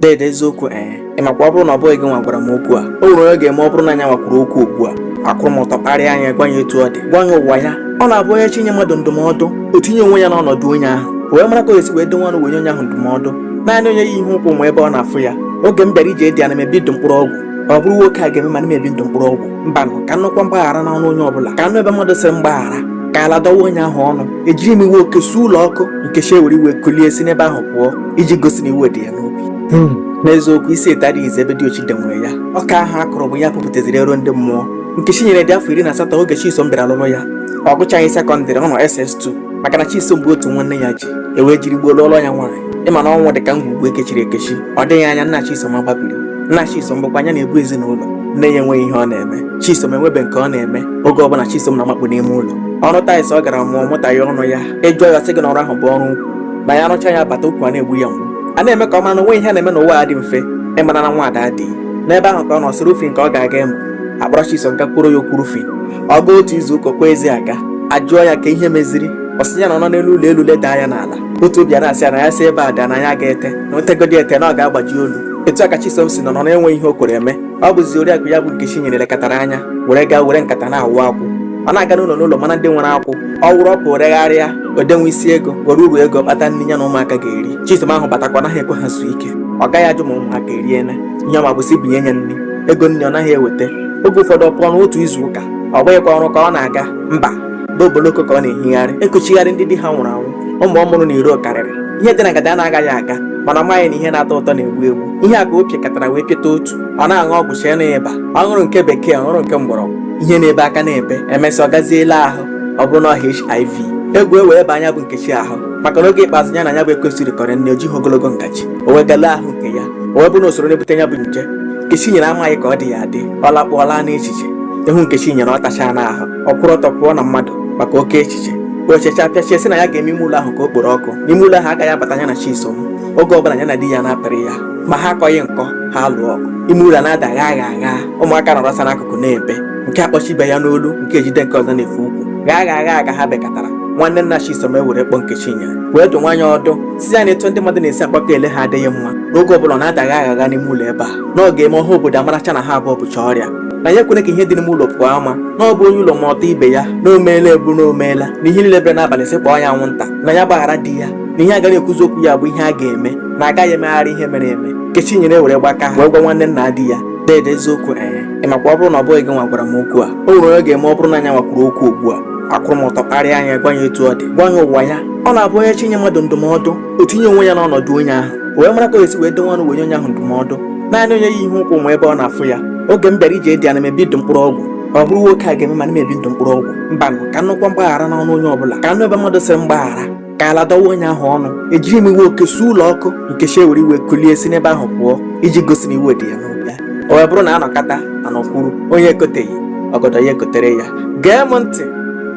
Dede eziokwu ee eh, ị makwa ọ bụrụ na ọ bụghị gị nwa gwara m okwu a o nwere onye ga-eme ọ bụrụ na ya nwa kwuru okwu ugbu a akwụrụ m ọtọ kparịa ya gwa ya etu ọ dị gwa ya ụwa ya ọ na-abụ onye chọọ inye mmadụ ndụmọdụ o tinye onwe ya n'ọnọdụ onye ahụ wee mara ka o esi wee dowe ọnụ wee nye onye ahụ ndụmọdụ naanị onye yi ihe ụkwụ ma ebe ọ na-afụ ya oge m bịara ije di ana m ebi ndụ mkpụrụ ọgwụ ọ bụrụ nwoke a ga-eme m ana m ebi ndụ mkpụrụ ọgwụ mbanụ ka m nụkwa mgbaghara n'ọnụ onye ọbụla ka m nụ ebe mmadụ sịrị m gbaghara ka ala dọwa onye ahụ ọnụ ejiri m iwe oke suo ụlọ ọkụ Nkechi ewere iwe kulie si n'ebe ahụ pụọ iji gosi na iwe dị ya n'obi hmm. n'eziokwu isi ete adịghịzi ebe diochi dewere ya ọka ahụ a kụrụ bụ ya pụpụtaziri ero ndị mmụọ Nkechinyere dị afọ iri na asatọ oge Chisom bịara lụrụ ya ọ gụchaghị sekọndịrị ọ nọ SS2 maka na Chisom bụ otu nwa nne ya ji e wee jiri gboo lụọrọ ya nwaanyị ị ma na ọnwụ dị ka ngwugwu ekechiri ekechi ọ dịghị anya nna Chisom agbabiri nna Chisom bụkwa ya na-ebu ezinụlọ nne ya enweghị ihe ọ na-eme Chisom enwebe nke ọ na-eme oge ọbụla Chisom na-amakpu n'ime ụlọ ọrụ tiles ọ gara mụọ mụta ya ọnụ ya ị jụọ ya sị gị na ọrụ ahụ bụ ọrụ ukwu na ya rụcha ya bata ukwu a na-egbu ya mgbu a na-eme ka ọ mara na o nweghị ihe a na-eme n'ụwa a dị mfe ịmara na nwaada adịghị n'ebe ahụ ka ọ nọ sị roofing ka ọ ga-aga ịmụ a kpọrọ Chisom gaa kwuoro ya okwu roofing ọ gaa otu izu ụka kwa ezi aga a jụọ ya ka ihe meziri ọ sị ya na ọ nọ n'elu ụlọ elu leda anya n'ala otu obi a na-asị ya na ya si ebe a daa na ya agaghị ete na o tegodi ete na ọ ga-agbaji olu etu a ka Chisom si nọ nọ na-enweghị ihe o kwere eme ọ bụzi oriakụ ya bụ Nkechinyere lekọtara anya were gaa were nkata na-awụ akwụ ọ na-aga n'ụlọ n'ụlọ mara ndị nwere akwụ ọ wụrụ ọ pụọ regharịa o dewe isi ego were uru ego kpata nri ya na ụmụaka ga-eri Chisom ahụ batakwa ọ naghị ekwe ha zuo ike ọ gaghị ajụ ma ụmụaka eriela ihe ọ ma bụ sị bunye ya nri ego nri ọ naghị eweta oge ụfọdụ ọ pụọ n'otu izu ụka ọ bụghịkwa ọrụ ka ọ na-aga mba bụ oboloko ka ọ na-ehigharị ekuchigharị ndị di ha nwụrụ anwụ ụmụ ọ mụrụ n'iro karịrị ihe dị na ngada a na-agaghị aga mana ọ maghị na ihe na-atọ ụtọ na-egbu egbu ihe a ka o pịakọtara wee pịata otu ọ na-aṅụ ọgwụ chee na ịba ọ ṅụrụ nke bekee ọ ṅụrụ nke mgbọrọgwụ ihe na-ebe a ka na-ebe emesịa ọ gazie lee ahụ ọ bụrụ na HIV egwu ewee baa ya bụ Nkechi ahụ maka na oge ikpeazụ ya na ya bụ ekwensu rikọrọ nri o jighị ogologo ngaji o wee gaa lee ahụ nke ya o wee bụ na o soro na-ebute ya bụ nje Nkechinyere amaghị ka ọ dị ya adị ọ lakpụọla n'echiche ị hụ Nkechinyere ọ tachaa n'ahụ ọ kwụrụ ọtọ pụọ na mmadụ maka oke echiche o checha pịachie sị na ya ga-eme ime ụlọ ahụ ka o kporo ọkụ na ime ụlọ ahụ agaghị abata ya na Chisom oge ọbụla ya na di ya na-apịrị ya ma ha akọghị nkọ ha alụọ ọgụ ime ụlọ na-ada gha gha gha ụmụaka nọrọsa n'akụkụ na-ebe nke akpọchie ibe ya n'olu nke ejide nke ọzọ n'efe ukwu gha gha gha gha ha bekatara nwanne nna Chisom ewere kpọọ Nkechinyere wee dụwa ya ọdụ sị ya na etu ndị mmadụ na-esi agbakọ ele ha adịghị mma na oge ọbụla ọ na-ada gha gha gha n'ime ụlọ ebe a na ọ ga-eme ọha obodo amaracha na ha abụọ bucha ọrịa na ya ekwene ka ihe dị n'ime ụlọ pụọ ama na ọ bụ onye ụlọ ma ọtọ ibe ya na o meela bụ na o meela na ihe niile bere n'abalị sị kpọọ ya anwụnta na ya gbaghara di ya na ihe agaghị ekwuzi okwu ya bụ ihe a ga-eme na agaghị emegharị ihe mere eme nkechinyere ewere gbakaa wee gwa nwanne nna di ya dede eziokwu ee ị makwa ọ bụrụ na ọ bụghị gị nwa gwara m okwu a o nwere onye ga-eme ọ bụrụ na nya nwa kwuru okwu ugbu a akwụrụ m ọtọ kparịa nya gwa ya etu ọ dị gwa ya ụwa ya ọ na-abụ onye chọọ inye mmadụ ndụmọdụ o tinye onwe ya n'ọnọdụ onye ahụ o wee mara ka o esi wee dowe ọnụ wee nye onye ahụ ndụmọdụ naanị onye yi ihe ụkwụ ma ebe ọ na-afụ ya oge m bịara ije di ana m ebi ndụ mkpụrụ ọgwụ ọ bụrụ nwoke a ga-eme m ana m ebi ndụ mkpụrụ ọgwụ mbanụ ka m nụkwa mgbaghara n'ọnụ onye ọbụla ka m nụ ebe mmadụ sịrị mgbaghara ka ala dọwa onye ahụ ọnụ ejiri m iwe oke suo ụlọ ọkụ nkechi ewere iwe kulie si n'ebe ahụ pụọ iji gosi na iwe dị ya n'obi o wee bụrụ na anọkata anọkwuru onye ekoteghị ọgọdọ ya ekotere ya gee m ntị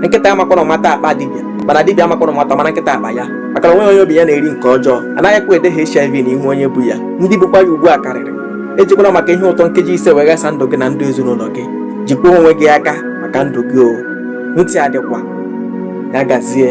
nkịta amakwana ụma taa akpa dibịa mana dibịa amakwana ụma mara nkịta akpa ya maka na onwe onye obi ya na-eri nke ọjọọ anaghịkwa ede HIV n'ihu onye bu ya ndị bukwa ya ugbu a karịrị ejikwala maka ihe ụtọ nkeji ise wee ghasa ndụ gị na ndụ ezinụlọ gị jikwa onwe gị aka maka ndụ gị o ntị adịkwa ya gazie